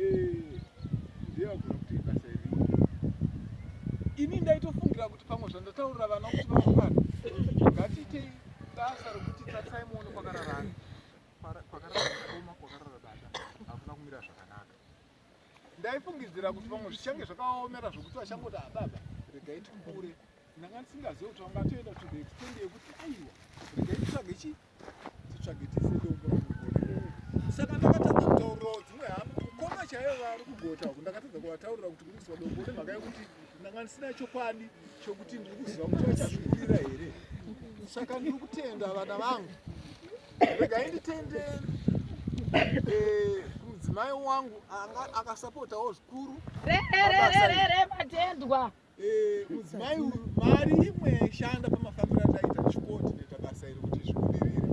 eh, ndeyagona kuti ibasa iri ini ndaitofungira kuti pamwe zvandataurira vana kuti vauvana ngatiitei basa rokuti tarisai muone kwakararana kwakararaoma kwakarara bata hakuna kumira zvakanaka ndaifungidzira kuti pamwe zvichange zvakaomera zvokuti vachangoti ababa regai tikure ndanga ndisingazive kuti vangatoenda to the extend yekuti aiwa regai titsvage chii saka ndakatadza kutaurirawo dzimwe hama mukoma chaivo vari kugota uku ndakatadza kuvataurira kuti ndiri kuziva dombo nemhaka yekuti ndanga ndisina chokwadi chokuti ndiri kuziva kuti vachazvikurira here saka ndiri kutenda vana vangu regai nditende eh, mudzimai wangu akasapotawo zvikuru rererererematendwa re, re, re, re, Eh, mudzimai uyu mari imwe yaishanda pamafambiro ataita chikoti neta basa iri kuti zvibudirire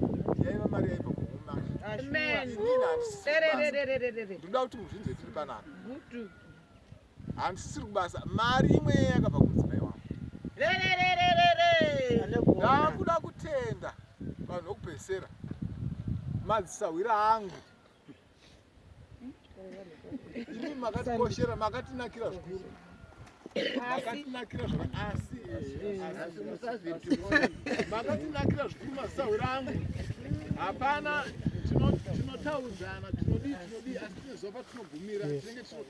yaiva mari yaiva kuhomandinoda kuti muzvinze tiri panaka handisisiri kubasa mari imwe yeye yakabva kumudzimai wangu ndakuda kutenda vanhu vokupesera madzisahwira angu Imi makatikoshera makatinakira zvikuru makatinakira asi makatinakira zvikuru masahwira angu hapana tinotaudzana tinodii tinodii asi tine zuva patinogumira tinenge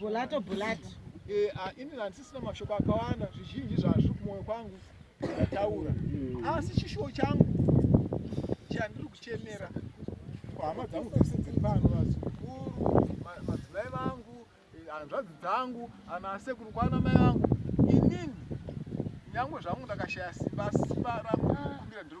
bulato bulato eh, ah, ini handisisina mashoko akawanda zvizhinji zvazviri kumwoyo kwangu ndataura mm. asi chishuwo changu chandiri kuchemera hama dzangu dzese dziri pano vazukuru madzimai vangu eh, hanzvadzi dzangu anasekuru kwana mai vangu inini nyangwe zvangu ndakashaya simba simba rangu kumbira ndiri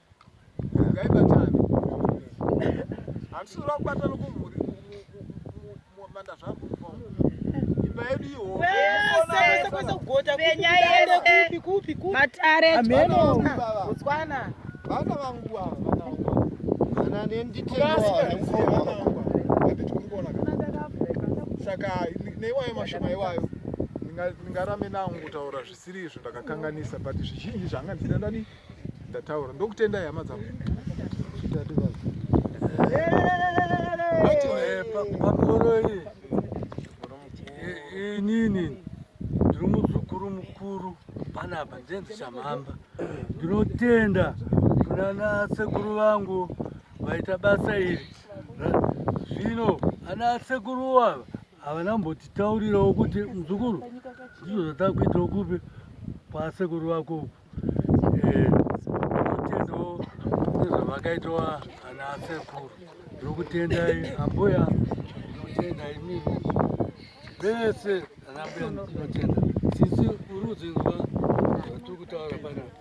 ngaibatane handisiri vakubata nokumhuri manda zvangu imba yedu ihoaenyayesematarevana vangu ava ana nenditeasaka neiwayo mashoma iwayo ndingarame nangu kutaura zvisiri izvo ndakakanganisa but zvizhinji zvanga ndinandanii ndataura ndokutendai hama dzangu pakoroi inini ndiri muzukuru mukuru panapa ndenzi chamhamba ndinotenda kunana sekuru vangu vaita basa iri zvino ana sekuru ava havana mbotitaurirawo kuti muzukuru ndizvo zvatava kuitawo kupi kwasekuru vako uku eh, tinotendawo nezvavakaitawa ana asekuru ndokutendai ambuya tinotenda imii vese anambuya tinotenda sisi urudzinzwa zvatiri kutaura panapa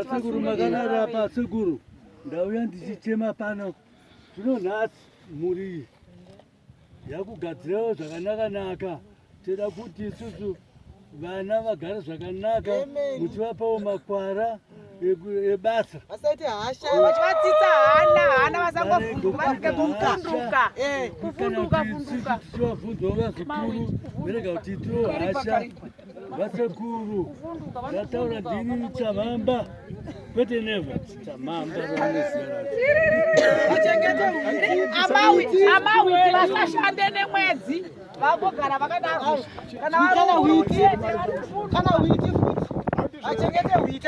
sekuru makanara apa sekuru Ndauya ndichichema pano zvino nhasi mhuri iyi yakugadzirawo zvakanaka naka toda kuti isusu vana vagare zvakanaka muchivapawo makwara ebasa vasaite hasha vachivatsitsa hana hana vasangavhunduka vasike kuvhunduka kuvhunduka vhunduka tichivavhunzawo vazukuru verega kuti itiwo hasha Vasekuru ndataura ndini chavamba kwete neva chamamba amawiti vasashande nemwedzi vagogara vakadaro kana witi futi achengete witi